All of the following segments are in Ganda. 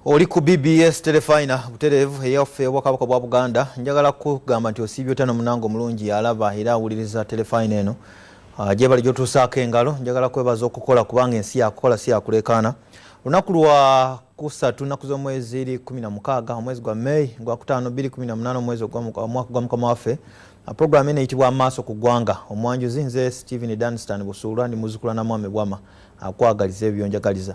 oli ku bbs telefina butereevu eyaffe obwakabaka bwa buganda njagala kugamba nti osiibye otya nomunanga omulungi yalaba era awuliriza telefina eno ah, gyebali gyotuusaako engalo njagala kwebaza okukola kubanga ensi yakukola si yakuleekaana lunaku lwa kusatu nnaku z'omwezi eri 16 omwezi gwa may gwa 5218 omwezi omwaka gwa mukama waffe ah, program eno eyitibwa amaaso ku ggwanga omwanjuzi nze stephen danstan busuulwa ndi muzukula na mwami bwama akwagaliza ah, ebyo byonjagaliza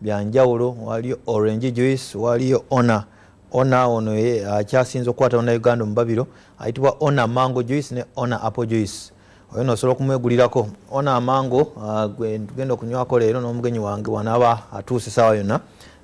byanjawulo waliyo orange juice waliyo ona ona ono akyasinza okukwata ona uganda omubabiro ayitibwa ona mango juice ne ona apple juice oyo nosobola okumwegulirako ona amango uh, genda okunywako leero n'omugenyi wange wanaaba atuuse saawa yonna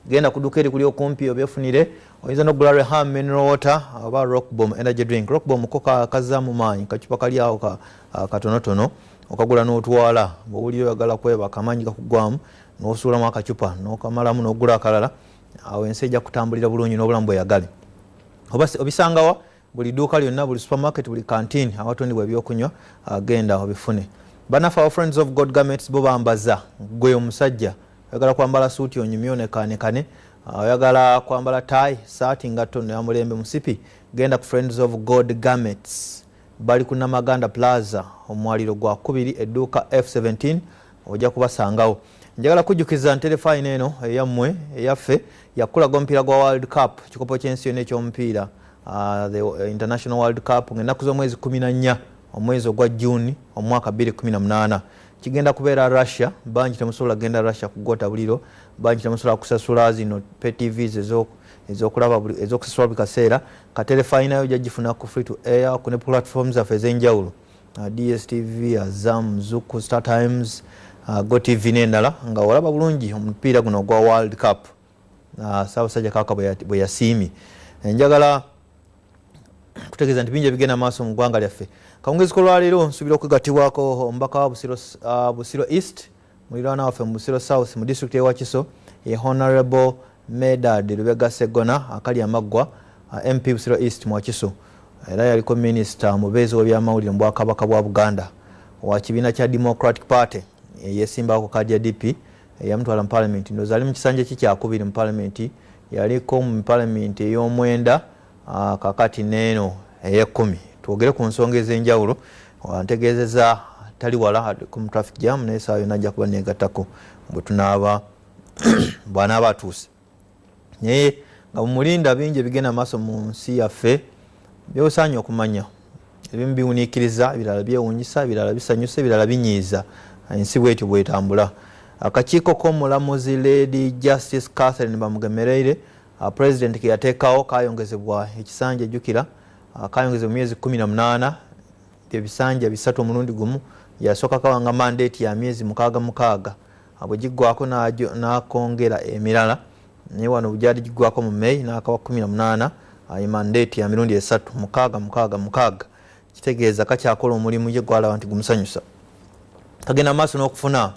genda kuduka eri kuli okumpi obyefunire oyinza nokugula reham mineral water oba rockbom energy drink rockbom ko kazaamu maanyi kacupa kali awo uh, katonotono okagula n'otwala bwowulira oyagala kwebaka amaanyi gakugwamu nosuulamu akacupa nokamalamu nogula akalala awo ensi ejja kutambulira bulungi nobulamu bweyagale obisangawa buli duuka lyonna buli supermarket buli kantiini awatundibwa ebyokunywa agenda ah, obifune banafe our friends of god garments bo bambaza gwe omusajja oyagala kwambala suuti onyumye onekanekane ah, oyagala kwambala tai saati ngatto noyamulembe musipi genda ku friends of god garments bali ku namaganda plaza omwaliro gwakubiri edduuka f 17 ojja kubasangawo njagala kujjukiza nterefayina eno eyammwe eyaffe yakulaga omupiira gwa world cup kikopo kyensi yona ekyomupiira uh, the uh, international world cup ngaennaku z'omwezi 14 omwezi ogwa june omwaka 218 kigenda kubeera russia bangi temusobola kugenda russia kugota buliro bangi temusobola kusasula zino petvs ezoku ezokulaba ezokusasula buli kaseera katerefayinayo jajifuna ku free to air ku ne platform zaffe ezenjawulo Uh, dstv azam uh, zuku star times uh, go tv nendala nga olaba bulungi omupiira guno ogwa world cup saabasajja kaka bwe yasiimye eh, njagala kutegeeza nti bingi ebigenda maaso mu ggwanga lyaffe kawungezi kolwaleero nsuubira okwegatibwako omubaka wa busiro east Mulirwana waffe mu Busiro South mu district y'e Wakiso ye Honourable Medard Lubega Sseggona akali amaggwa uh, MP Busiro East mu Wakiso era yaliko minisita omubeezi w'ebyamawulire mu bwakabaka bwa Buganda wa kibiina kya Democratic Party eyesimbawo ku kaadi ya DP eyamutwala mu palamenti ndoozi ali mu kisanja ki kyakubiri mu palamenti yaliko mu palamenti ey'omwenda Ah, kakati neeno eyekumi twogere ku nsonga ez'enjawulo ntegeezeza tali wala mu traffic jam naye saa yona ajja kuba negattako bwetunaaba bwanaaba atuuse naye nga mumulinda bingi ebigenda maaso mu nsi yaffe byosaanya okumanya ebimu biwuniikiriza ebirala byewunyisa ebirala bisanyusa ebirala binyiiza ensi bwetyo bwetambula akakiiko k'omulamuzi lady justice catherine bamugemereire uh, president keyateekawo kayongezebwa ekisanja ejjukira uh, kayongezebwa mu myezi kumi na munaana byebisanja bisatu omulundi gumu yasooka kawanga mandate ya myezi mukaaga mukaaga uh, bwe giggwako n'akongera emirala naye wano gyali giggwako mu may n'akawa kumi na munaana uh, mandate ya mirundi esatu mukaaga mukaaga mukaaga kitegeeza kakyakola omulimu ye gwalaba nti gumusanyusa kagenda maaso n'okufuna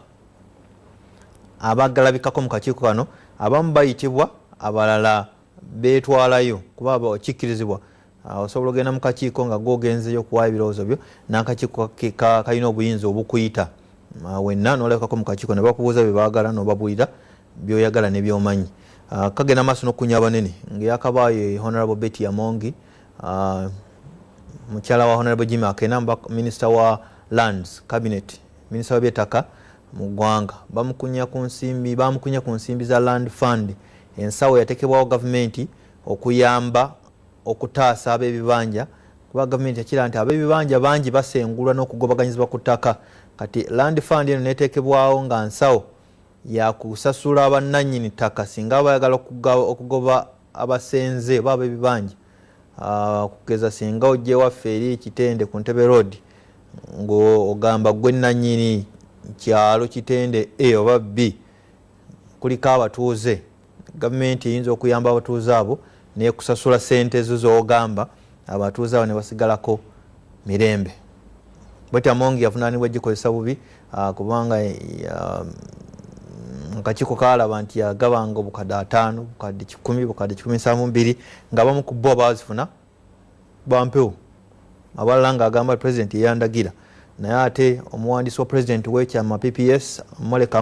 abagalabikako mu kakiiko kano abamu bayitibwa abalala betwalayo kuba kikkirizibwa ah, osobola ogenda mu kakiiko nga gogenzeyo okuwayo ebirowoozo byo nakakiiko kalina obuyinza obukuyita ah, wenna nolabikako mu kakiiko ne bakubuuza bye baagala nobabuulira byoyagala ne byomanyi ah, kagenda maaso nokukunya abanene ngeyakabaayo honorable betty yamongi mukyala wa honorable jimmy akena minisita wa lands cabinet Minisita w'ebyettaka mu ggwanga bamukunya ku nsimbi bamukunya ku nsimbi za Land Fund ensawo yatekebwawo gavumenti okuyamba okutaasa ab'ebibanja kuba gavumenti yakira nti ab'ebibanja bangi basengulwa n'okugobaganyizibwa ku ttaka kati Land Fund eno neetekebwawo nga nsawo yakusasula bannannyini ttaka singa bayagala okugoba abasenze oba abebibanja ah, kugeza singa ojewaffe eri ekitende ku ntebe road ngaogamba gwe nanyini kyalo kitende a oba b kuliko abatuuze gavumenti eyinza okuyamba abatuuze abo nekusasula sente zo zogamba abatuuze abo nebasigalako mirembe bwetyo amongi yavunanibwa egikozesa bubi ah, kubanga ah, akakiiko kalaba nti yagabanga obukadde ataano bukadde kikumi bukadde kikumi nsanvu mbiri nga abamu ku bo abazifuna bampewo abalala nga agamba president yeyandagira naye ate omuwandiisi wa president wekyama pps moleka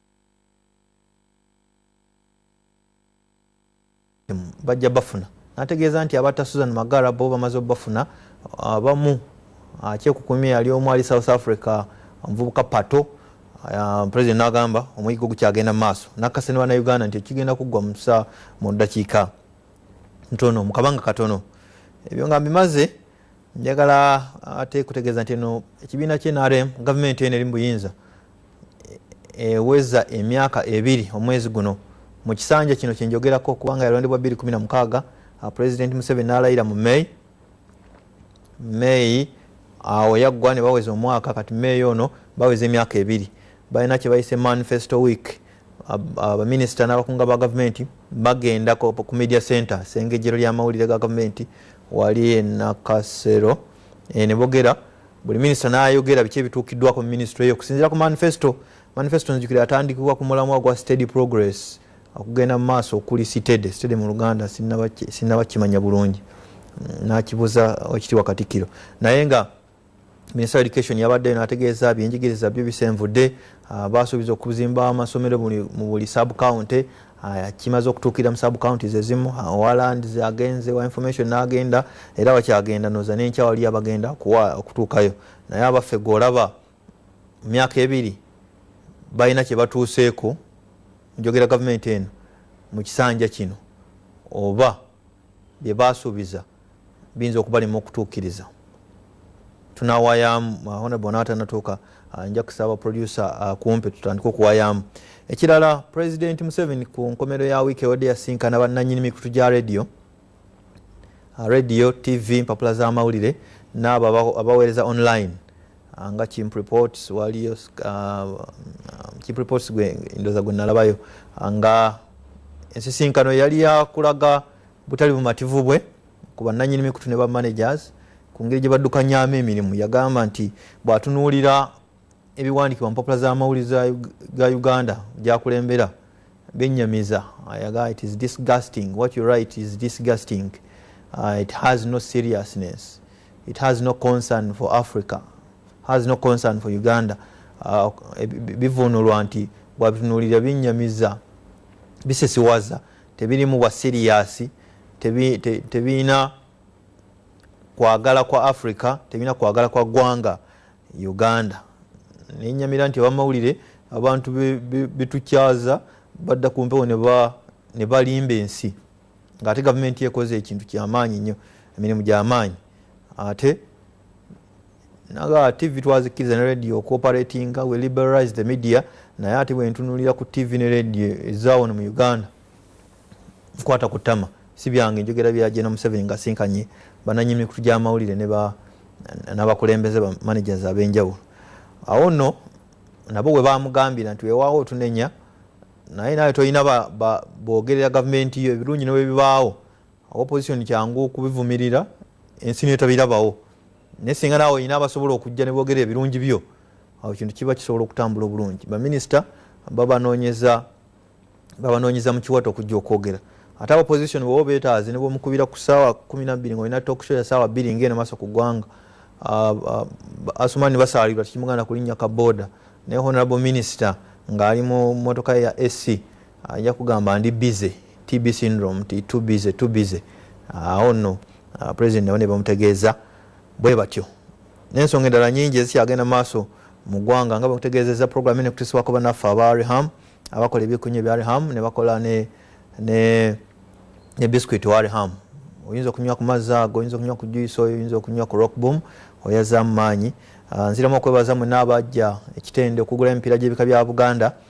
bajja bafuna nategeeza nti abatta susan magara bo bamaze obafuna abamu ah, akyekukumye ah, yali omu ali south africa omuvubuka pato ah, president nagamba omuyigo gukyagenda maaso nakase ne banauganda nti ekigenda kuggwa musa mu ddakiika ntono mukabanga katono ebyo nga mbimaze njagala ate kutegeeza nti eno ekibiina kye nrm gavumenti eno eri mu buyinza eweza emyaka ebiri omwezi guno mu kisanja kino kyenjogerako kubanga yalondebwa 216 uh, president museveni nalayira mu may may awo yaggwa ne baweza omwaka kati may ono baweza emyaka ebiri balina kyebayise manifesto week abaminisita uh, uh, n'abakunga ba gavumenti bagenda ku media center sengejero ly'amawulire ga gavumenti wali enakasero eh, ne bogera buli minisita nayogera biki ebituukiddwako mu minisitule eyo okusinzira ku manifesto manifesto nzijukira atandikibwa ku mulamwa gwa steady progress okugenda mu maaso okuli sitede sitede mu luganda sinnabakimanya bulungi mm, nakibuza okitiwa katikiro naye nga minister education yabadde nategeeza byenjigiriza byo bisenvudde ah, basuubiza okuzimba amasomero mu buli sub county aya kimaze okutuukira mu sub counties ezimu waland agenze wa information n'agenda era wakyagenda noza nenkya waliyo abagenda kuwa okutuukayo naye abaffe gweolaba mu myaka ebiri balina kye batuuseeko njogera gavumenti eno mu kisanja kino oba bye baasuubiza biyinza okubalema okutuukiriza tunawayamu ahona uh, bona atanatuuka uh, nja kusaba producer uh, kumpe tutandike okuwayamu ekirala president museveni ku nkomero ya wiiki ewadde yasinkana bannanyini mikutu gya radio radio tv mpapula z'amawulire n'abo abaweereza online nga chimp reports waliyo chimp reports gwe ndoza gwe nalabayo nga ensisinkano yali yakulaga butali bumativu bwe ku bannanyini mikutu ne bamanagers ku ngeri gye baddukanyaamu emirimu yagamba nti bw'atunuulira ebiwandiikibwa mupapula z'amawulire ga uganda gyakulembera benyamiza ayaga it is disgusting what you write is disgusting uh, it has no seriousness it has no concern for africa has no concern for uganda uh, bivunulwa nti bwabitunuulira binyamiza bisesiwaza tebirimu bwa siriyasi tebirina kwagala kwa africa tebirina kwagala kwa gwanga uganda nenyamira nti abamawulire abantu betukyaza badda ku mpewo ne balimba ensi ngaate gavumenti ekoze ekintu kyamaanyi nnyo emirimu gyamaanyi ate naga tv twazikkiriza ne radio okooperatinga we liberalize the media naye ate bwentunulira ku tv ne radio ezawono mu uganda nkwata ku tama si byange njogera bya jena museveni nga sinkanye bananyi mikutu gyamawulire nabakulembeze ba managers abenjawulo awo no nabo we bamugambira nti wewaawo otunenya naye nawe tolina bogerera gavumenti yo ebirungi newebibaawo oba opposition kyangu okubivumirira ensi niyo tabirabawo naye singa naawe olina abasobola okujja ne boogera ebirungi byo awo kintu kiba kisobola okutambula obulungi baminisita babanoonyeza babanoonyeza mu kiwato okujja okwogera ate aba opposition bwewa obeetaaze ne bwomukubira ku ssaawa kumi nabbiri nga olina toksho ya ssaawa bbiri ngaeno maaso ku ggwanga ah, ah, asumani basaalirwa tekimuganda kulinnya ka booda naye honorable minister ng'ali mu motoka ya sc ajja kugamba ndi bize tb syndrome ti too busy too busy awo ah, no ah, president nabo nebamutegeeza bwe batyo nensonga endala nyingi ezikyagenda maaso mu ggwanga nga bakutegeezeza program ene kutisibwako banaffe aba reham abakola ebikunya ebya reham nebakola ne, ne, ne biscuit wa reham oyinza okunywa ku mazzi ago oyinza okunywa ku juice oyo oyinza okunywa ku rock boom oyazamu maanyi ah, nziramu okwebaza mwena abajja ekitende okugula emipiira gyebika bya buganda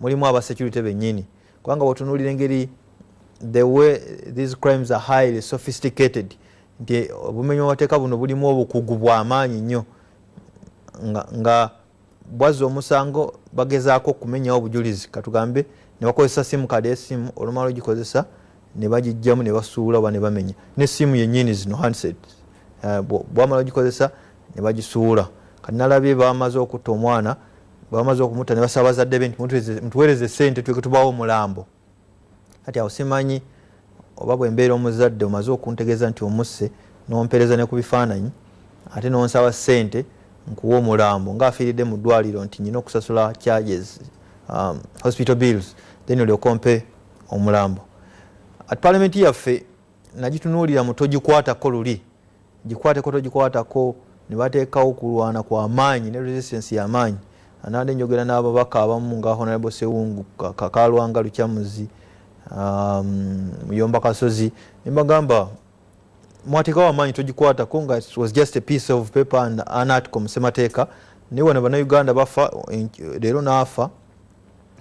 mulimu aba security benyini kubanga wotunulira engeri the way these crimes are highly sophisticated nti obumenyi bwamateeka buno bulimu obukugu bwamaanyi nnyo nga, nga bwazza omusango bagezaako okumenyawo obujulizi katugambe nebakozesa simu kadi esimu olumala ogikozesa nebagijjamu nebasuula oba nebamenya ne simu yenyini zino handset eh, bwamala ogikozesa ne bagisuula kati nalabye bamaze okutta omwana bamaze okumutta ne basaba bazadde be nti mutuweereze sente tuleke tubawo omulambo kati awo simanyi oba bwe mbeera omuzadde omaze okuntegeeza nti omusse nompeereza ne ku bifaananyi ate nonsaba sente nkuwa omulambo nga afiiridde mu ddwaliro nti nyina okusasula charges um, hospital bills then olyoka ompe omulambo at parliament yaffe nagitunuulira mutogikwatako luli gikwateko togikwatako nebateekawo kulwana kwa maanyi ne resistance ya maanyi anande njogera n'ababaka abamu nga honorable sewungu kakalwanga lukyamuzi um, muyomba kasozi nembagamba mwateekawo amaanyi togikwatako nga was just a piece of paper and an article musemateeka naye wano banauganda bafa leero naafa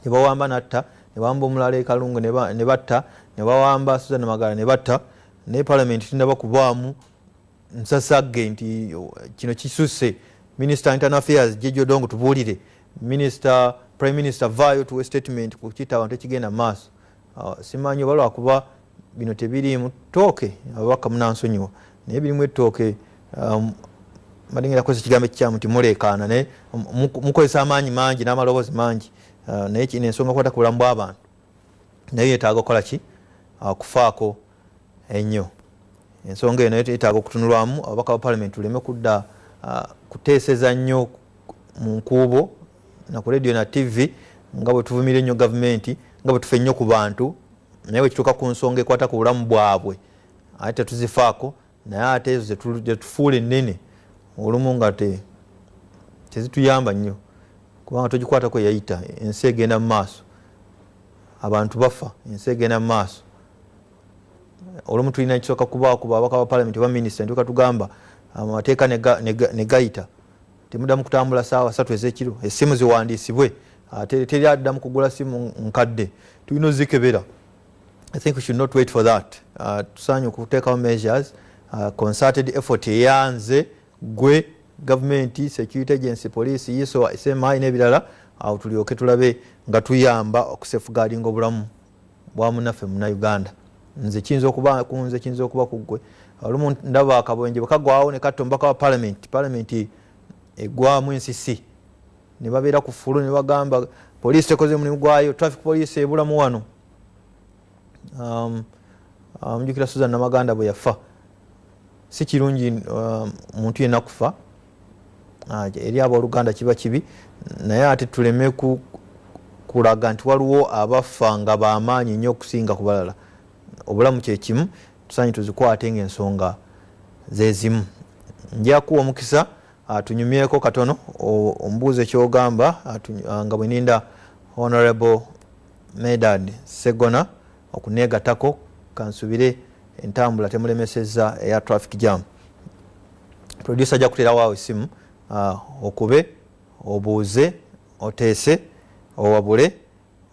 nebawamba natta nebawamba omulala ekalungu nebatta nebawamba suzan magala nebatta naye palamenti tinaba kubaamu nsasagge nti oh, kino kisusse minister internal affairs jejodong tubuulire minister prime minister vaayo tuwe statement ku kita abantu ekigenda maaso uh, simanyi oba lwakuba bino tebiriimu tooke ababaka munansonyiwa naye birimu ettooke um, madengera kozesa ekigambo ekikyamu nti muleekaana naye mukozesa amaanyi mangi n'amaloboozi mangi uh, naye kino ensonga kwata ku bulamu bw'abantu naye yetaaga okukola ki ah, kufaako ennyo ensonga eno yetaaga okutunulwamu ababaka ba palamenti tuleme kudda ah, kuteeseza nnyo mu nkuubo na ku radio na tv nga bwe tuvumira ennyo gavumenti nga bwe tufa ennyo ku bantu naye bwe kituuka ku nsonga ekwata ku bulamu bwabwe ate tetuzifaako naye ate ezo zetufuula ennene olumu nga tezituyamba nnyo kubanga togikwatako yayita ensi egenda mu maaso abantu bafa ensi egenda mu maaso olumu tulina kisooka kubaako babaka ba palamenti oba minisita ntuka tugamba amateeka negayita temudamu kutambula saawa satu ezekiro esimu ziwandiisibwe ate teri addamu kugula simu nkadde tulina ozikebera I think we should not wait for that uh, tusaanye okuteekawo measures uh, concerted effort eyanze gwe gavumenti security agency police iso smi n'ebirala awo tulyoke tulabe nga tuyamba okusefugaalinga obulamu bwa munaffe muna uganda nze kiyinza okuba kunze kiyinza okuba ku ggwe olumu ndaba akabwenje bwekagwawo ne katta omubaka wa palamenti palamenti egwamu ensisi nebabeera ku fulu nebagamba poliisi tekoze mulimu gwayo traffic poliisi ebulamu wano um, um, mjukira um, suzan namaganda bwe yafa si kirungi um, muntu yena kufa uh, eri aboluganda kiba kibi naye ate tuleme kulaga nti waliwo abafa nga bamaanyi nnyo okusinga ku balala obulamu kyekimu tusanyi tuzikwate ngaensonga zezimu njakuwa omukisa atunyumyeko katono omubuuze kyogamba nga bweninda honorable medard segona okunegatako kansubire entambula temulemeseza eya traffic jam producer ajja kuterawo awo esimu okube obuuze oteese owabule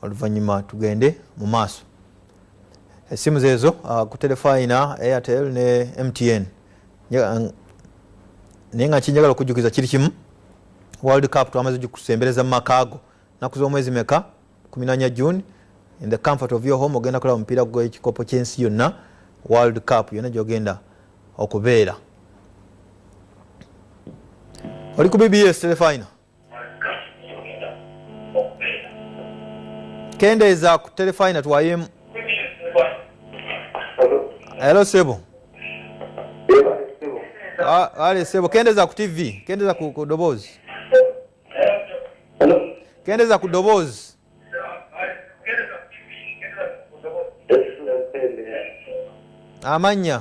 oluvanyuma tugende mu maaso esimu zeezo uh, ku telefayina airtel ne mtn uh, naye nga kinjagala okujjukiza kiri kimu world cup twamaze kusembereza mu maka ago naku z'omwezi meka kuminanya june in the comfort of your home ogenda kulaba omupiira gwekikopo kyensi yonna world cup yonna gyogenda okubeera oli ku bbs telefayina kendeeza ku telefayina twayemu elo sebo ale sebo kendeeza ku tv kendeeza ku doboozi kendeeza ku doboozi amannya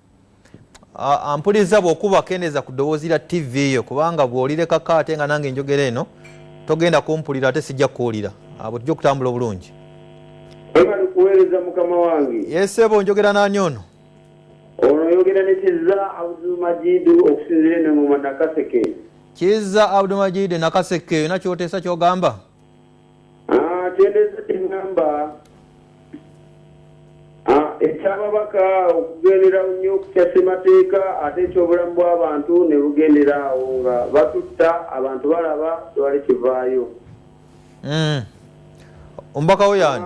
ampuliza bwokuba kendeza ku ddoboozi lya ttivi yo kubanga bw'olirekako ate nga nange enjogera eno togenda kumpulira ate sijja kukuwulira abo tujja okutambula obulungi kuweereza mukama wange yesebo njogera nani ono ono oyogera ne kiza abdumajidu okusinzira enengoma nakaseke kiza abdumajidu nakaseke yona kyoteesa kyogamba atendeeza kye ŋŋamba ekyababaka okugendera nnyo okukya ssemateeka ate ekyobulamu bw'abantu ne bugendera awo nga batutta abantu balaba tewali kivaayo hmm. omubaka wo yani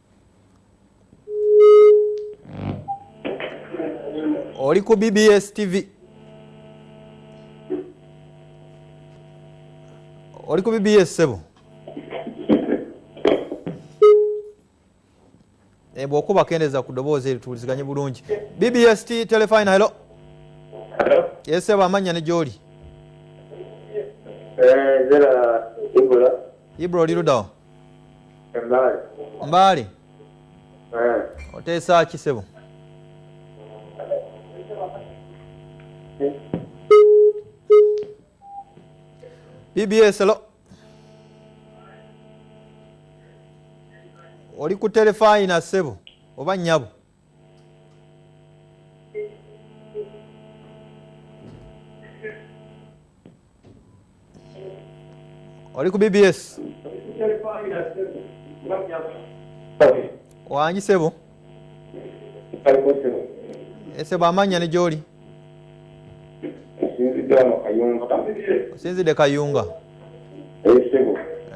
oli ku bbs tv oli ku bbs sebo eh, bwokuba kendeza ku doboozi erituliziganye bulungi bbs t telefina helo yesebo amanya ne gyoli eh, ibro oli ludawa mbaale eh. oteesa ki sebo bbs lo oli ku telefayina sebo oba nyabo oli ku bbs wangi sebo esebo amanya ne gyoli osinzidde kayunga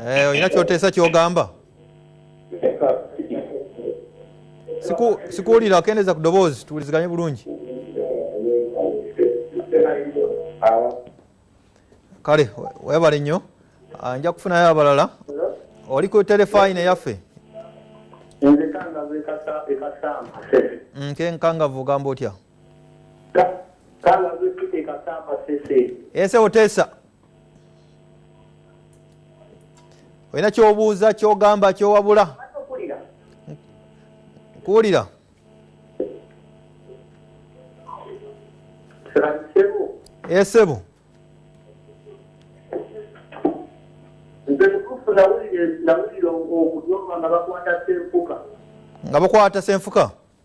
eh, olina kyoteesa kyogamba sikuwulira akendeeza ku ddoboozi tuwuliziganye bulungi kale webale nnyo ah, nja kufunayo abalala oli ku telefayina yaffe nkenkangavu ogamba otya ese oteesa olina kyobuuza kyogamba kyowabula kuwulira esebo eh, nze mutuufu nawulira okunyoma nga bakwata senfuka nga bakwata senfuka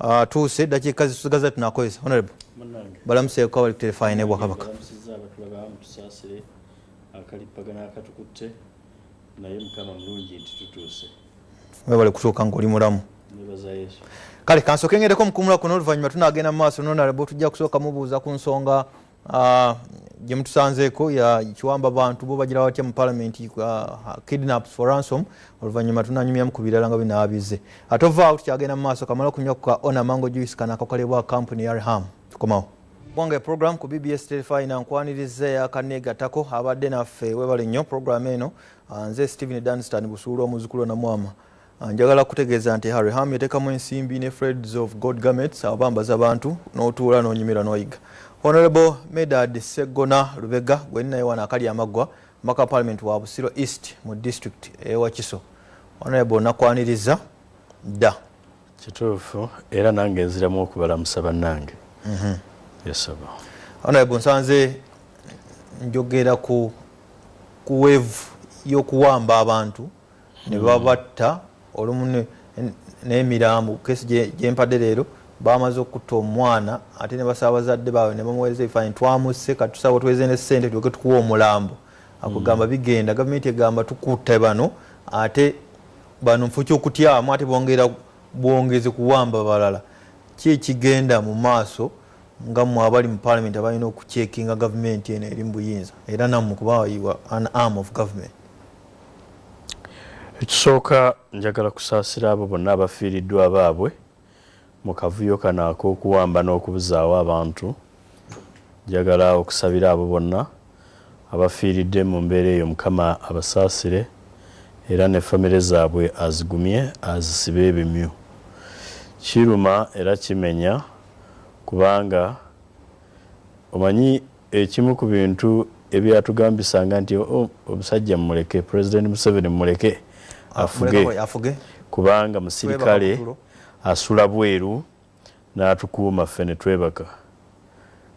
Ah, tuuse dakiika zitusigaza tunakozesa honorable balamuseeko abali kuterefaani ne bwakabaka webale kutuuka ngaoli mulamu kale kansoke ngereko mukumula kuno oluvanyuma tunagenda mu maaso nonarable tujja kusooka mubuuza ku nsonga ah, gyemutusanzeeko kiwamba bantu bo bagira batya mu palamenti ah, kidnaps for ransom oluvanyuma tunanyumyamu ku birala nga binaabize ate ovaawo tukyagenda mu maaso kamala okunywa ku ka ona mango juice kana akakolebwa kampuni ya reham tukomawo bwange program ku bbs telefina nkwaniriza yakanegatako abadde naffe webale nnyo program eno ah, nze stephen danstan busuula omuzukulu namwama Njagala kutegeeza nti Harry Ham yatekamu ensimbi ne Freds of God Garments abambaza abantu n'otuula n'onyumira n'oyiga. Honorable Medard Seggona Lubega gwe ninaye wano akali amaggwa maka parliament wa Busiro East mu district e Wakiso. Honorable nakwaniriza dda. Kituufu era nange nziramu okubalamusa bannange. Mhm. Yes sir. Honorable nsanze njogera ku ku wave y'okuwamba abantu. nebabatta olumu n'emirambo kesi gyempadde leero bamaze okutta omwana ate nebasaba bazadde baabwe nebamuwereza ebifaanyi twamusse katusaba tuweze ne ssente tulyoke tukuwa omulambo akugamba hmm. bigenda gavumenti egamba tukutte bano ate bano mufo kyokutyamu ate bongera bwongezi kuwamba balala ki ekigenda mu maaso nga mwe abali mu palamenti abalina okucekinga gavumenti eno eri mu buyinza era nammwe kuba an arm of government ekisooka njagala kusaasira abo bonna abafiiriddwa abaabwe mu kavuyo kano ak'okuwamba n'okubuzaawo abantu njagala okusabira abo bonna abafiiridde mu mbeera eyo mukama abasaasire era ne famire zaabwe azigumye azisibe ebimyu kiruma era kimenya kubanga omanyi Ekimu ku bintu ebyatugambisanga nti oh, omusajja mumuleke, Pulezidenti Museveni mumuleke ah, afuge kubanga musirikale asula bweru n'atukuuma ffe ne twebaka.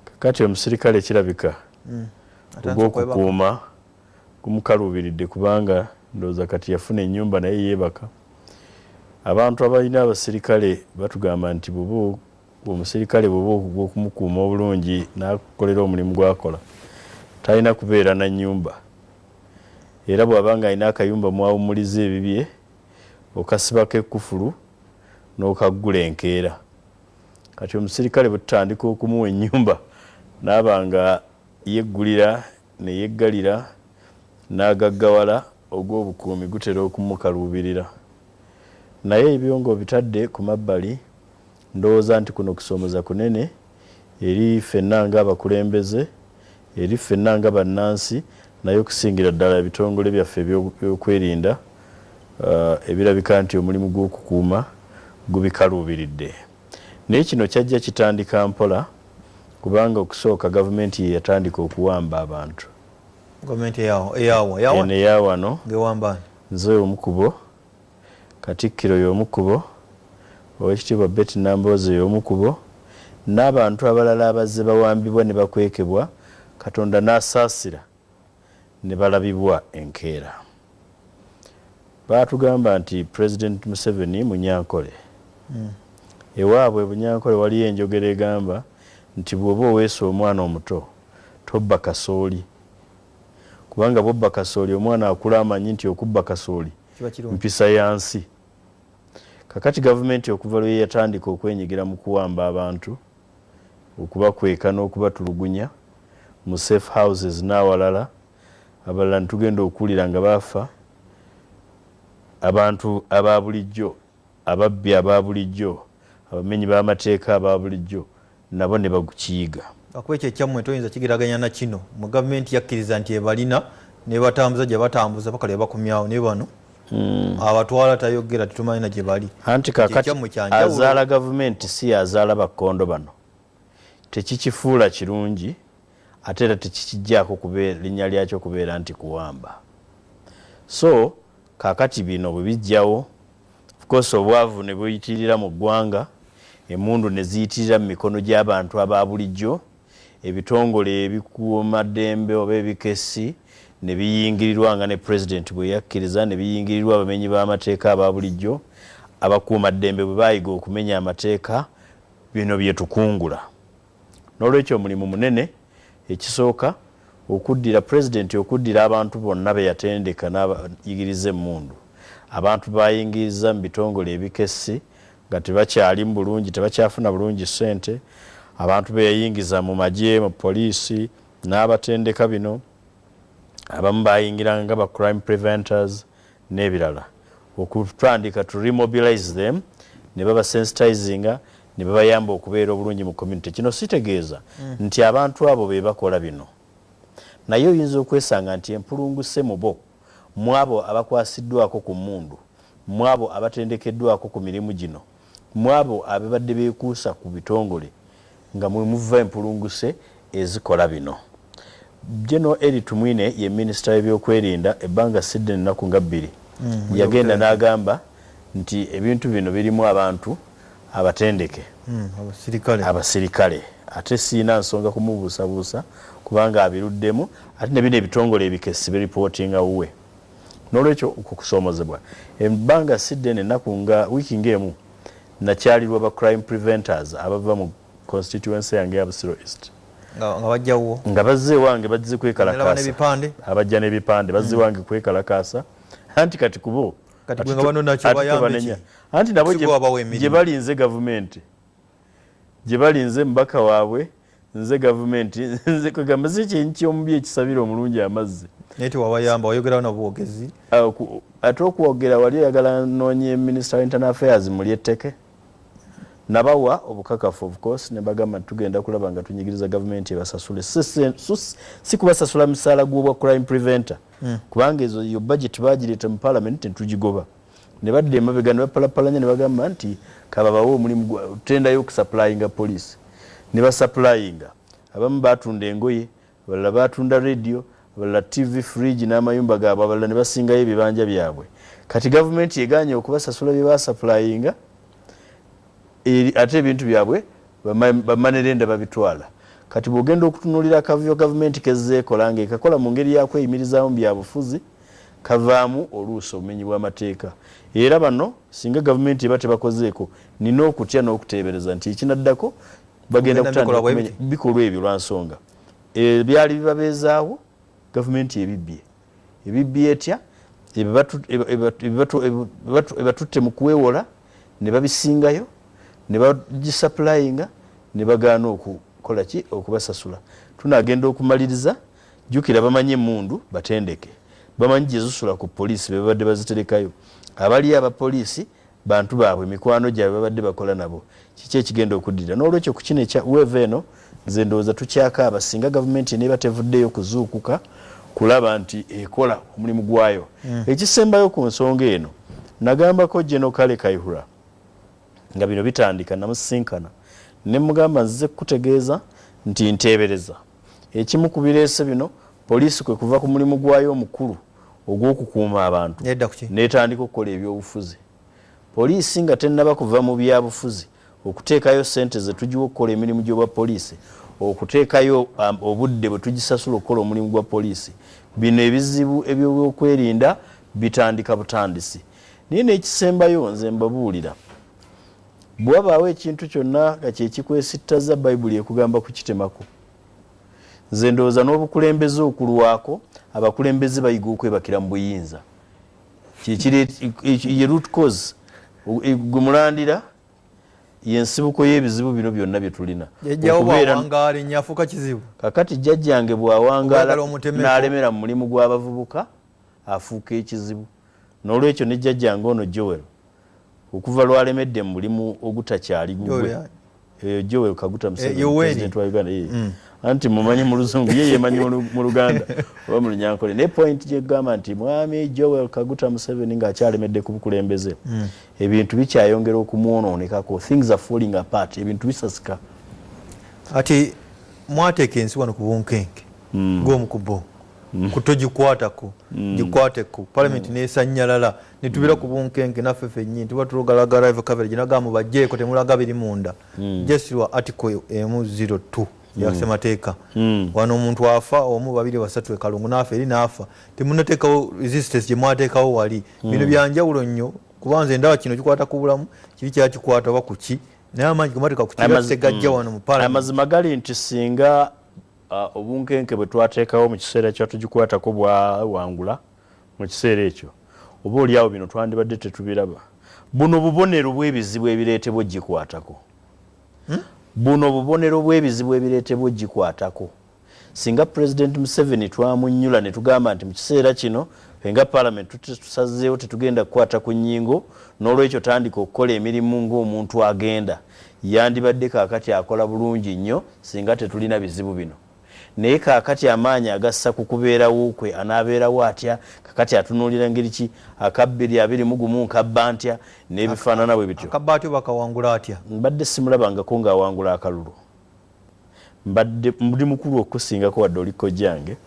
Kakati omusirikale kirabika hmm. ogw'okukuuma gumukaluubiridde kubanga ndowooza kati yafuna ennyumba naye yeebaka. Abantu abalina abasirikale batugamba nti bubu omusirikale bwoba okuga okumukuuma obulungi nakukolera omulimu gwakola talina kubeera na nyumba era bwaba nga alina akayumba mwawumuliza ebibye okasibako ekufulu nokaggula enkeera kati omusirikale bwetutandika okumuwa enyumba naaba nga yeggulira neyeggalira nagaggawala ogwobukuumi gutera okumukaluubirira naye ebyo nga obitadde ku mabbali Ndowooza nti kuno kusoomoza kunene eri ffenna ng'abakulembeze, eri ffenna nga bannansi naye okusingira ddala ebitongole byaffe ebyokwerinda ebirabika nti omulimu gw'okukuuma gubikaluubiridde. Naye kino kyajja kitandika mpola kubanga okusooka gavumenti ye yatandika okuwamba abantu. Gavumenti eyawa? Eno eya wano. Ng'ewamba ani? Nze omu ku bo. Katikkiro y'omu kubo, Owekitiibwa Betty Nambooze y'omu kubo, n'abantu abalala abazze bawambibwa ne bakwekebwa Katonda n'asaasira ne balabibwa enkeera. Baatugamba nti Pulezidenti Museveni Munyankole. Ewaabwe e Bunyankole waliyo enjogera egamba nti bw'oba oweese omwana omuto tobba kasooli kubanga bw'obba kasooli omwana akula amanyi nti okubba kasooli. mpisa ya nsi kakati gavumenti okuva lwe yatandika okwenyigira mu kuwamba abantu okubakweka n'okubatulugunya mu safe houses n'awalala abalala netugenda okuwulira nga baafa abantu aba bulijjo Ababbi aba bulijjo, abamenyi b'amateeka aba bulijjo nabo ne bakiyiga. Lwakuba ekyo ekyammwe toyinza kigeraganya na kino. Mmwe gavumenti yakkiriza nti ebalina n'ebatambuza gye batambuza paka lwe bakomyawo naye bano abatwala tayogera tetumanyi na gye bali. Anti kaakati azaala gavumenti si y'azaala bakkondo bano. Tekikifuula kirungi. ate era tekikijjaako kubeera linnya lyakyo kubeera nti kuwamba so kakati bino bwe bijjawo of course obwavu ne buyitirira mu ggwanga emundu ne ziyitirira mu mikono gy'abantu aba bulijjo ebitongole ebikuuma ddembe oba ebikessi ne biyingirirwa nga ne president bwe yakkiriza ne biyingirirwa abamenyi b'amateeka aba bulijjo abakuuma ddembe bwe baayiga okumenya amateeka bino bye tukungula N'olwekyo omulimu munene, ekisooka, okuddira, Pulezidenti okuddira abantu bonna be yatendeka n'abayigiriza emmundu, abantu b'ayingiiza mu bitongole ebikessi nga tebakyalimu bulungi, tebakyafuna bulungi ssente, abantu be yayingiza mu magye, mu poliisi, n'abatendeka bino, abamu baayingiranga nga ba Crime Preventers, nebirala okutandika to remobilize them ne baba sensitizinga ne babayamba okubeera obulungi mu community kino sitegeeza mm. nti abantu abo be bakola bino naye oyinza okwesanga nti empulunguse mu bo mwabo abakwasiddwako ku mmundu mwabo abatendekeddwako ku mirimu gino mwabo ababadde bekuusa ku bitongole nga mwemuva empulunguse ezikola bino. General Elly Tumwine ye minister w'ebyokwerinda ebbanga siddene ennaku nga bbiri mm, yagenda n'agamba nti ebintu bino birimu abantu abatendeke mm, abasirikale ate siina nsonga kumubuusabuusa kubanga abiruddemu ate ne bino ebitongole ebikessi biripootinga wuwe. N'olwekyo, okwo kusoomozebwa. Ebbanga ssi ddene, ennaku nga wiiki nga emu, nnakyalirwa ba Crime Preventers abava mu konsitityuwensi yange eya Busiro East. Nga, nga bajja wuwo? Nga bazze ewange bazze kwekalakaasa. Abajja n'ebipande bazze ewange hmm. kwekalakaasa. Anti kati kubo. Kati gwe nga banona kyo bayambe ki? Anti nabo gye bali nze gavumenti. Gye bali nze mbaka waabwe. nze gavumenti nze kwegamba si kyenyi kyomubi ekisabira omulungi amazzi naye tewabayamba wayogerawo nabwogezi ah, ate okwogera wali oyagala noonye minister wa internal affairs muli etteke nabawa obukakafu of course nebagamba nti tugenda kulaba nga tunyigiriza gavumenti ebasasule si kubasasula misaala gwobwa crime preventer hmm. kubanga ezo yo budget bagireeta mu parliament netugigoba ne badda emabega ne bapalappalanya ne bagamba nti kababawe omulimu gwa tenda y'okusapulayinga poliisi ne basapulayinga abamu baatunda engoye abalala baatunda leediyo abalala ttivi firiigi n'amayumba gaabwe abalala ne basingayo ebibanja byabwe kati gavumenti egaanye okubasasula bye baasapulayinga ate ebintu byabwe bamanerenda babitwala kati bw'ogenda okutunuulira akavuyo gavumenti kezzeekola ng'ekakola mu ngeri ya kweyimirizaamu byabufuzi kavaamu oluusi obumenyi bw'amateeka era bano singa gavumenti eba tebakozeeko nina okutya n'okuteebereza nti ekinaddako bagenda kutandika bikolwa ebyo lwa nsonga ebyali bibabeezaawo gavumenti ebibbye ebibbye etya ebatutte mu kuwewola ne babisingayo ne bagisapulayinga ne bagaana okukola ki okubasasula tunagenda okumaliriza Jjukira bamanyi emmundu batendeke, bamanyi gye zisula ku poliisi be babadde baziterekayo. Abaliyo aba poliisi bantu baabwe, mikwano gyabwe babadde bakola nabo. Kiki ekigenda okuddirira? Noolwekyo ku kino ekya weeva eno nze ndowooza tukyakaaba singa gavumenti eneeba tevuddeyo kuzuukuka kulaba nti ekola omulimu gwayo. Hmm. Ekisembayo ku nsonga eno nagambako General Kale Kayihura nga bino bitandika namusisinkana ne mugamba nzize kukutegeeza nti nteebereza Ekimu ku bireese bino poliisi kwe kuva ku mulimu gwayo omukulu ogw'okukuuma abantu n'etandika okukola ebyobufuzi. Poliisi nga tennaba kuva mu byabufuzi okuteekayo ssente ze tugiwa okukola emirimu gy'obwa poliisi, okuteekayo um, obudde bwe tugisasula okukola omulimu gwa poliisi, bino ebizibu eby'obyokwerinda bitandika butandisi. Naye n'ekisembayo nze mbabuulira Bwe wabaawo ekintu kyonna nga kye kikwesittaza, Bayibuli ekugamba kukitemako. Nze ndowooza n'obukulembeze okulwako, abakulembeze bayiga okwebakira mu buyinza. Ye root cause e, gwe mulandira yensibuko y'ebizibu bino byonna bye tulina kakati jjajjange bw'awangaala n'alemera mu mulimu gw'abavubuka afuuka ekizibu N'olwekyo ne jjajjange ono Joel okuva lw'alemedde mu mulimu ogutakyali gugwe. Eyo Joel Kaguta Museveni, eh, President wa Uganda. Eh. Mm. Anti mumanyi mu luzungu, ye yemanyi mu luganda, oba mu lunyankole. Ne point gye gamba nti mwami Joel Kaguta Museveni nga akyalemedde ku bukulembeze. Mm. Ebintu bikyayongera okumwonoonekako. Things are falling apart. Ebintu bisasika. Ati mwateeka ensi wano ku bunkenke. Mm. Gw'omu ku bo. mm. kutogikwatako mm. gikwateko palamenti mm. nesanyalala netubira ku bunkenke naffe fennyini tuba tulogalagala ev coverage naga mubajjeeko temulaga biri munda just lwa article emu 02 yasemateeka wano omuntu afa omu babiri basatu ekalungu naafa eri naafa temunateekawo resistance gyemwateekawo wali bino byanjawulo nnyo kuba nze ndaba kino kikwata ku bulamu kiri kyakikwata oba kuki naye amaanyi gemateeka ku kira tegajja wano mu palamenti amazima gali nti singa Obunkenke bwe twateekawo mu kiseera kya tugikwatako bwawangula mu kiseera ekyo, oba olyawo bino twandibadde tetubiraba. Buno bubonero bw'ebizibu ebireetebwa ogikwatako. Hmm? Buno bubonero bw'ebizibu ebireetebwa ogikwatako. Singa Pulezidenti Museveni twamunnyula ne tugamba nti mu kiseera kino fe nga Palamenti tusazeewo tetugenda kukwata ku nnyingo, n'olwekyo tandika okukola emirimu ng'omuntu agenda. Yandibadde kaakati akola bulungi nnyo singa tetulina bizibu bino. Naye kaakati amaanyi agassa ku kubeerawo kwe. Anaabeerawo atya? Kaakati atunuulira ngeri ki? Akabbiri abiri mu gumu nkabba ntya? N'ebifaanana bwe bityo. Akabba atya oba akawangula atya? Mbadde ssimulabangako nga awangula akalulu. Mbadde, ndi mukulu okukusingako wadde oli kojjange,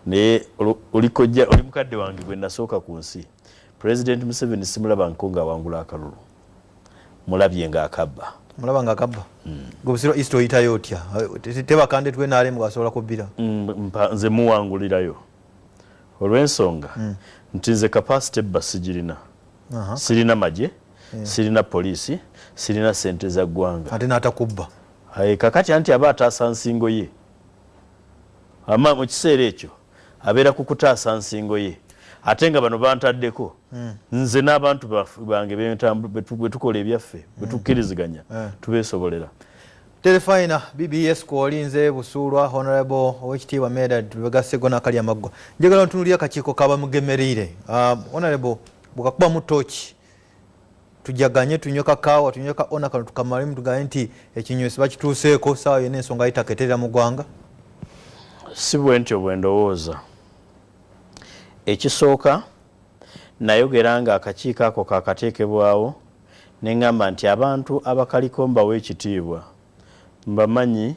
naye oli kojja, oli mukadde wange gwe nnasooka ku nsi. Pulezidenti Museveni ssimulabangako nga awangula akalulu. mulabye nga akabba mulaba nga akabba mm. gwe busiro east oyitayo otya tebakande twe nalem gwasobola kubbira mm, nze muwangulirayo olwensonga mm. nti nze kapasite ebba sigirina uh -huh. sirina magye yeah. sirina poliisi sirina sente za ggwanga ate natakubba kakati anti aba ataasa nsingo ye ama mu kiseera ekyo abeera ku kutaasa nsingo ye ate nga bano bantaddeko hmm. nze n'abantu bange bwe tukola ebyaffe bwe hmm. tukkiriziganya eh. tubeesobolera terefayina bbs kwolinze busuulwa honorable owekitiibwa medad lwegasego nakali amaggwa njagala ntunulira akakiiko kabamugemereire ah, honorable bwekakubamu tooki tujaganye tunywe kakaawa tunywe ka ona kano tukamalemu tuganye nti ekinywesi bakituuseeko saawa yona ensonga yitaketerera mu ggwanga si bwe ntyo bwe ndowooza ekisooka nayogera nga akakiiko ako kakateekebwawo ne ŋŋamba nti abantu abakaliko mbawa ekitiibwa mbamanyi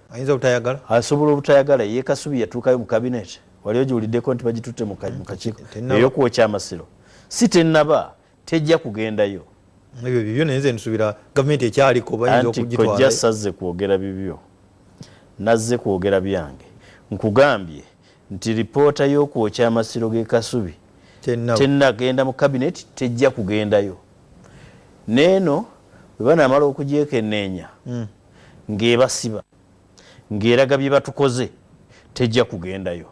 ayinza obutayagala asobola obutayagala ye kasubi yatuukayo mu kabineeti wali ogiwuliddeko nti bagitutte mu kakiiko eyokuwokya amasiro si tennaba tejja kugendayo ebyo bibyo naye nze nsubira gavumenti ekyaliko bayinza okugitwala kojja sazze kwogera bibyo nazze kwogera byange nkugambye nti lipoota y'okwokya amasiro g'e kasubi tennagenda mu kabineti tejja kugendayo neeno bwe banaamala okugyekenneenya hmm. ng'ebasiba ng'eraga bye batukoze tejja kugendayo.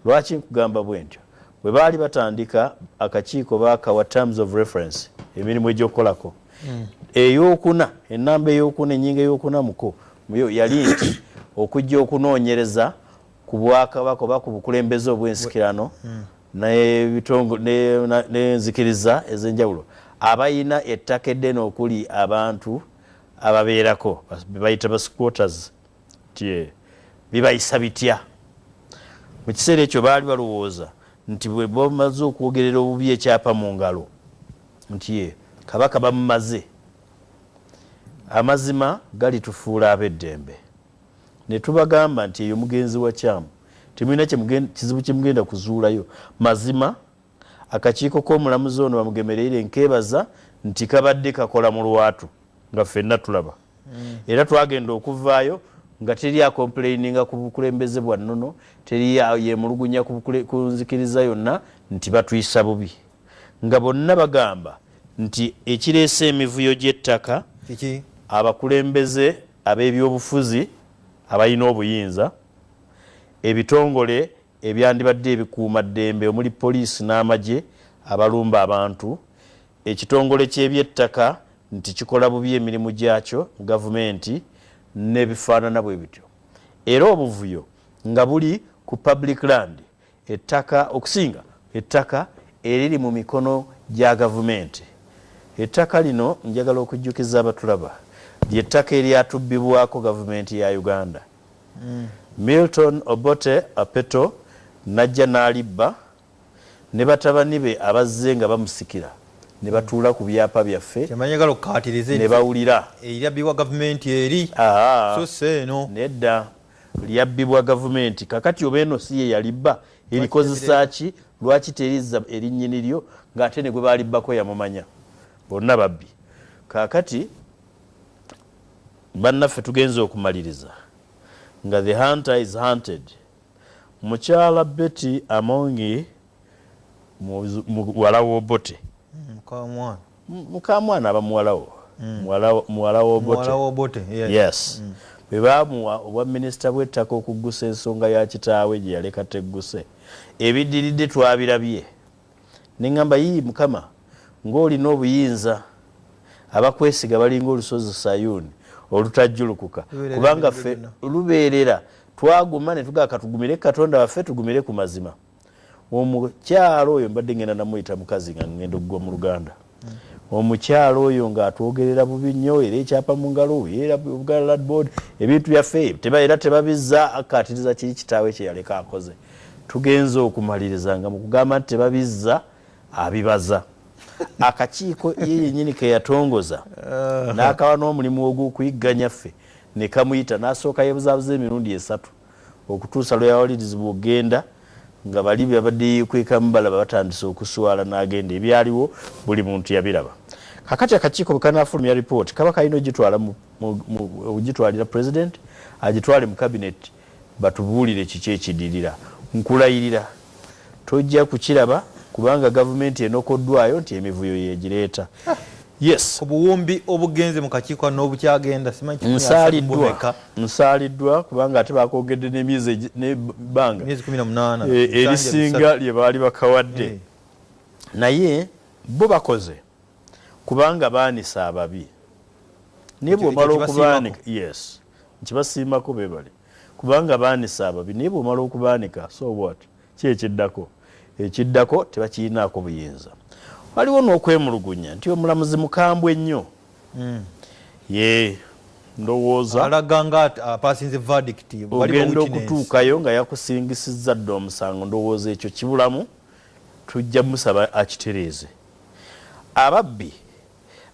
Lwaki nkugamba bwentyo? Bwe baali batandika akakiiko baakawa terms of reference emirimu egy'okukolako hmm. ey'okuna ennamba ey'okuna ennyingo ey'okuna muko muyo yali nti okujja okunoonyereza ku bwakabaka oba ku bukulembeze obw'ensikirano hmm. n'enzikiriza ez'enjawulo abalina ettaka eddene okuli abantu ababeerako bebayita ba squatters nti eh, bibayisa bitya mu kiseera ekyo baali balowooza nti bwe bamaze okwogerera obubi ekyapa mu ngalo nti eh, kabaka bamumaze amazima galitufuula ab'eddembe ne tubagamba nti eyo mugenzi wa kyamu temulina kizibu kyemugenda kuzuulayo mazima Akakiiko k'omulamuzi ono Bamugemereire nkeebaza nti kabadde kakola mu lwatu nga ffenna tulaba mm. era twagenda okuvaayo nga teri akompuleyininga ku bukulembeze bwa nnono teri yemulugunya ku nzikiriza yonna nti batuyisa bubi nga bonna bagamba nti ekireese emivuyo gy'ettaka abakulembeze ab'ebyobufuzi abalina obuyinza ebitongole ebyandibadde ebikuuma ddembe omuli poliisi n'amagye abalumba abantu, ekitongole ky'ebyettaka nti kikola bubi emirimu gyakyo, gavumenti n'ebifaanana bwe bityo era obuvuyo nga buli ku Public Land, ettaka okusinga ettaka eriri mu mikono gya gavumenti. Ettaka lino njagala okujjukiza abatulaba ly'ettaka eryatubbibwako gavumenti ya Uganda Milton Obote Apeto n'ajja n'alibba ne batabani be abazze nga bamusikira ne batuula ku byapa byaffe ne bawulira. Lyabbibwa gavumenti eri so si eno. Nedda, lyabbibwa gavumenti. Kaakati oba eno si ye yalibba erikozesa ki? Lwaki terizza eri nnyini lyo ng'ate ne gwe baalibbako yamumanya? Bonna babbi. Kaakati. Bannaffe tugenze okumaliriza nga the hunter is hunted. Mukyala Betty Amongi muwala w'Obote. Mukamwana aba muwala wo. Muwala w'Obote. Yes. Bwe baamuwa obwa minisita bw'ettaka okuggusa ensonga ya kitaawe gye yaleka tegguse, ebiddiridde twabirabye. Nengamba yii mukama ngolina obuyinza abakwesiga balinga olusozi sayuni olutajjulukuka kubanga ffe lubeerera twaguma netugaa katugumire katonda waffe tugumire ku mazima omukyalo oyo mbadde ngenda namuyita mukazi nga ngenda okugwa mu luganda Omukyala oyo nga atwogerera bubi nnyo era ekyapa mu ngalo era Buganda Land Board ebintu byaffe teba era tebabizza akkaatiriza kiri kitaawe kye yaleka akoze. Tugenze okumaliriza nga mu kugamba nti tebabizza abibaza akakiiko ye yennyini ke yatongoza n'akawa n'omulimu ogw'okuyigganya ffe ne kamuyita n'asooka yeebuzaabuza emirundi esatu. okutuusa lwe yawalirizibwa okugenda nga bali byabadde yeekwekamu balaba batandise okuswala n'agenda ebyaliwo buli muntu yabiraba kakati akakiiko bwe kanaafulumya lipooti kaba kalina ogitwala ogitwalira pulezidenti agitwale mu kabineti batubuulire kiki ekidirira nkulayirira Tojja kukiraba kubanga gavumenti enokoddwayo nti emivuyo yegireeta. Yes. Ku buwumbi obugenze mu kakiiko n'obukyagenda simanyi kiki nsaaliddwa nsaaliddwa kubanga ate baakogedde n'emyezi n'ebbanga myezi kumi na munaana eh, erisinga lye baali bakawadde eh. naye bo bakoze kubanga baanise ababi naye bw'omala okubaanika yes nkibasiimako beebali Kubanga baanise ababi. Naye bw'omala okubaanika, so what? Ki ekiddako? Ekiddako tebakirinaako buyinza. Waliwo n'okwemulugunya nti omulamuzi mukambwe nnyo. Yee, ndowooza. Alaga nga apaasinze verdict. Waliwo witness. Ogenda okutuukayo nga yakusingisizza dda omusango. Ndowooza ekyo kibulamu. Tujja musaba akitereeze. Ababbi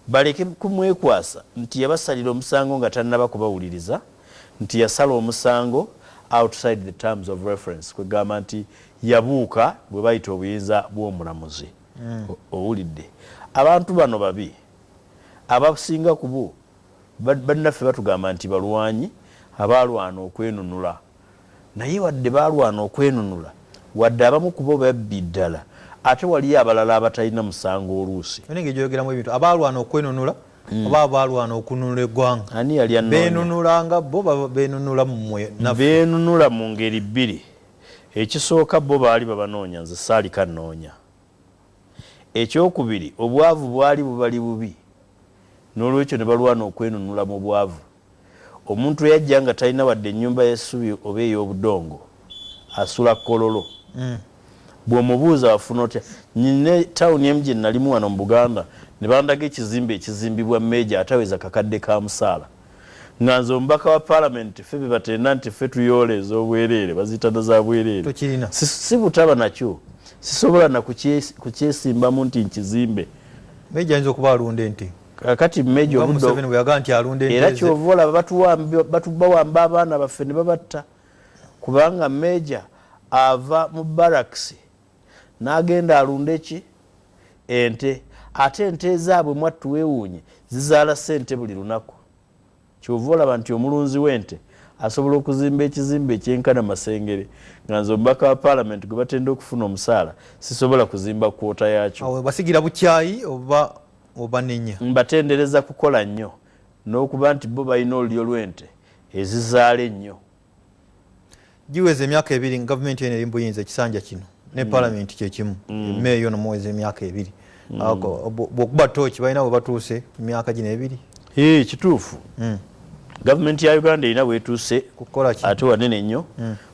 baleke kumwekwasa nti yabasalira omusango nga tannaba kubawuliriza nti yasala omusango outside the terms of reference kwegamba nti yabuuka bwe bayita obuyinza bw'omulamuzi hmm. owulidde abantu bano babi abasinga kubu Bannaffe batugamba nti balwanyi abaalwana okwenunula, naye wadde baalwana okwenunula, wadde abamu ku bo babbi, ddala ate waliyo abalala abatalina musango oluusi. Eno engeri gy'oyogeramu ebintu, abaalwana okwenunula oba abaalwana okununula eggwanga? Ani yali annoonya? Beenunula nga bo oba beenunula mmwe naffe? Beenunula mu ngeri bbiri. Ekisooka bo baali babanoonya, nze saalika nnoonya. Eky'okubiri, obwavu bwali bubali bubi, n'olwekyo ne balwana okwenunula mu bwavu. Omuntu eyajja nga talina wadde ennyumba y'essubi oba ey'obudongo, asula kololo. Bw'omubuuza, Wafuna otya? Nnina tawuni emu gye nnalimu wano mu Buganda, ne bandaga ekizimbe ekizimbibwa meeja ataweza kakadde ka musaala. Nga nze omubaka wa parliament fe bebatenda nti fe tuyoola ezobwerere baziyita na za bwerere sibutaba nakyo sisobola nakukyesimbamu nti nkizimbe meja ayinza okuba alunda ente kakati meja era kyova olaba batubawamba abaana baffe nebabatta kubanga meja ava mu baraks n'agenda alunde ki ente ate ente ezaabwe mwattu weewuunye zizaala ssente buli lunaku kyova olaba nti omulunzi w'ente asobola okuzimba ekizimbe ekyenkana masengere nga nze omubaka wa paalamenti gwe batenda okufuna omusaala sisobola kuzimba kwota yakyo basigira bukyayi oba obanenya mbatendereza kukola nnyo n'okuba nti bo balina olulyo lw'ente ezizaala ennyo giweza emyaka ebiri gavumenti eno eri mu buyinza ekisanja kino ne mm. palamenti kyekimu mm. meeya ono muweza emyaka ebiri mm. bwokuba tooki balina bwe batuuse mu myaka gino ebiri kituufu gavumenti ya uganda erina bwetuuse ate wanene nnyo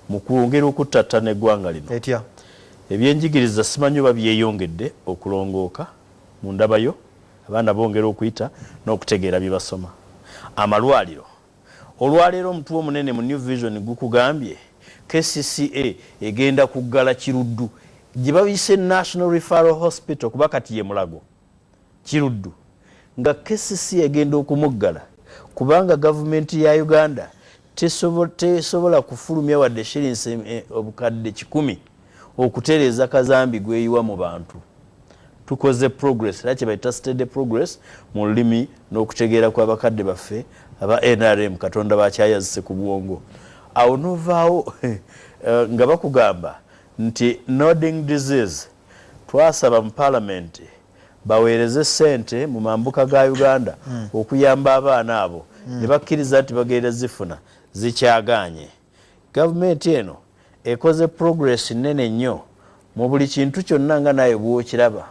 mu kwongera okuttattana eggwanga lino etya ebyenjigiriza simanyi oba byeyongedde okulongooka mu ndabayo abaana bongera okuyita n'okutegeera bye basoma amalwaliro Olwaleero omutwe omunene mu New Vision gukugambye kcca egenda kuggala Kiruddu gye bayise National Referral Hospital kuba kati ye Mulago Kiruddu nga kcca egenda okumuggala kubanga gavumenti ya Uganda tesobola kufulumya wadde shilinsi eh, obukadde kikumi okutereeza kazambi gweyiwa mu bantu tukoze progress era kyebayita steady progress mu lulimi n'okutegeera kwa bakadde baffe aba nrm katonda bakyayazise ku bwongo awo novaawo eh, nga bakugamba nti noding disease twasaba mu palamenti baweereze sente mu mambuka ga uganda hmm. okuyamba abaana abo hmm. ne bakkiriza nti bagenda zifuna zikyaganye Gavumenti eno ekoze progress nnene nnyo mu buli kintu kyonna nga naawe bw'okiraba.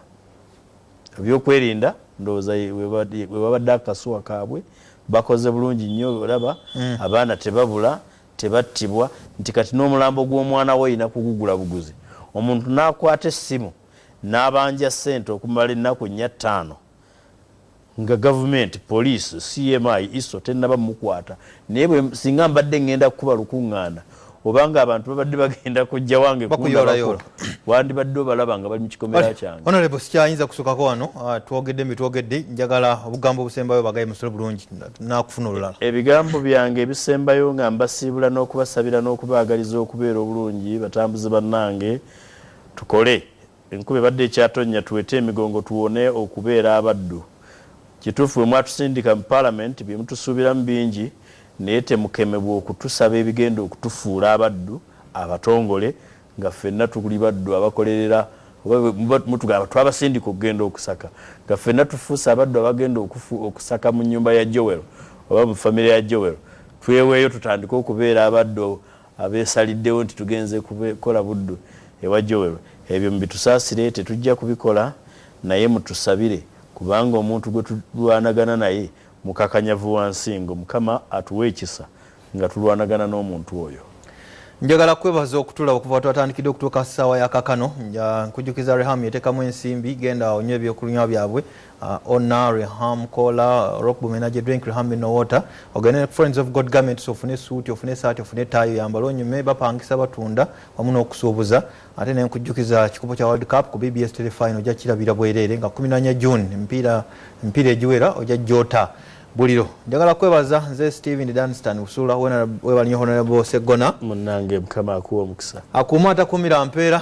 Ebyokwerinda ndowooza we babadde akasuwa kaabwe bakoze bulungi nnyo olaba hmm. abaana tebabula tebattibwa nti kati n'omulambo gw'omwana we olina kugugula buguzi omuntu n'akwata essimu n'abanja ssente okumala ennaku nnya ttaano Nga Gavumenti, Poliisi, CMI, ISO tennaba mukwata naye bwe singa mbadde ngenda kukuba lukungaana oba nga abantu babadde bagenda kujja wange kundabako wandibadde obalaba nga bali mu kikomera kyange. Honorable sikyayinza kusukako wano ah, twogedde mbitwogedde njagala obugambo obusembayo bagaye musole bulungi nakufuna olulala. Ebigambo byange ebisembayo nga mbasiibula n'okubasabira n'okubaagaliza okubeera obulungi batambuze bannange tukole Enkuba ebadde ekyatonnya tuwete emigongo tuwone okubeera abaddu. Kituufu bwe mwatusindika mu Palamenti bye mutusuubiramu bingi naye temukemebwa okutusaba ebigenda okutufuula abaddu abatongole nga ffenna tuli baddu abakolerera oba bwe mutugamba twabasindika okugenda okusaka nga ffenna tufuuse abaddu abagenda okusaka mu nnyumba ya Joel oba mu famire ya Joel. Tweweeyo tutandike okubeera abaddu abeesaliddewo nti tugenze kukola Buddu ewa Joel ebyo mubitusaasire tetujja kubikola naye mutusabire kubanga omuntu gwe tulwanagana naye mukakanyavu wa nsingo Mukama atuwe ekisa nga tulwanagana n'omuntu oyo. Njagala kwebaza okutula okuva twatandikidde okutuuka ssaawa ya kakano. Nkujukiza Reham yetekamu ensimbi genda onywa eby'okunywa byabwe. uh, ona reham kola rock bumenaje drink reham in water ogene friends of god garments ofune suit ofune sati ofune tayo yambalo nyume bapangisa batunda wamu n'okusuubuza ate ne nkujjukiza kikopo kya world cup ku bbs telefinal ojja kirabira bwereere nga 14 june empiira empiira egiwera ojja jota buliro njagala kwebaza nze steven danstan usula webalinyo honorable segona munange mukama akuwa omukisa akuuma atakumira mpeera